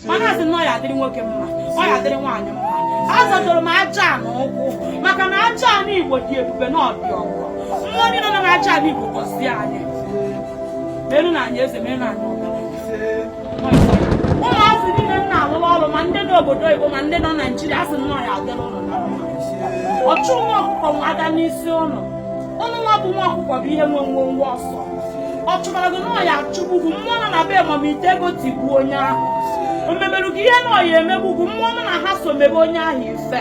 mana asị na ọ ya adịrị nwoke mma ọ ya adịrị nwaanyị mma azọdoro m aja ana ụkwụ maka na aja ana igbo dị ebube na ọ dị ọgọ mmụọ niile nọ na aja ana igbo gọzie anyị merụ na anyị eze merụ na anyị ụmụazị niile na-alụrụ ọrụ ma ndị n'obodo oyibo ma ndị nọ naijiria asị na ọ ya adịrị ụnụ mma ọchụ nwa ọkụkọ nwe ada n'isi ụnụ ụnụ nwa bụ nwa ọkụkọ bụ ihe nwe nwe nwe ọsọ ọ chụbara gị na ọ ya achụgbu gị mmụọ nọ na be mamite ego tigbuo onye ahụ o mebere gị ihe na ọ ya emegbu gị mmụọ ụnụ na ha so mebe onye ahụ ife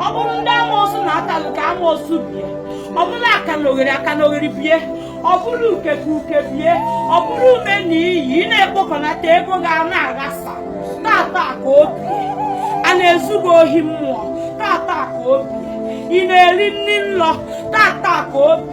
ọ bụrụ ndị amoosu na-ata gị ka amoosu bie ọ bụrụ akanogheri akanogheri bie ọ bụrụ uke ka uke bie ọ bụrụ ume na iyi ị na-ekpokọnata ego gị a na-aghasa taata ka o bie a na-ezu gị ohi mmụọ taata ka o bie ị na-eri nri nlọ taata ka o bi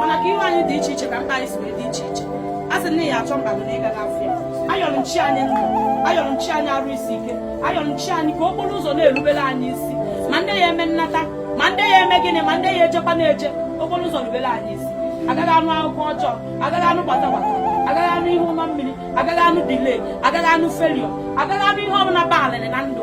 mana ka ihu anyị dị iche iche ka mkpa anyị si wee dị iche iche a sị na ya achọ mkpa gị na ị ga-afụ ya ayọrọ m chi anyị ndụ ayọrọ m chi anyị arụ isi ike ayọrọ m chi anyị ka okporo ụzọ na-erubere anyị isi ma ndị ya eme nnata ma ndị ya eme gịnị ma ndị ya ejekwa na-eje okporo ụzọ rubere anyị isi agaghị anụ akụkọ ọjọọ agaghị anụ gbata gbata agaghị anụ ihe ụma mmiri agaghị anụ delay agaghị anụ failure agaghị anụ ihe ọbụla baalịrị na ndụ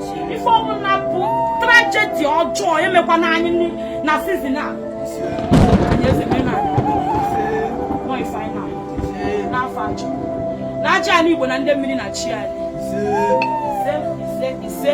ife ọbụla bụ trajedi ọjọọ emekwana anyị na sizin a n'afa aja ana aja ala igbo na ndị mmiri na chi anyị ise ise ise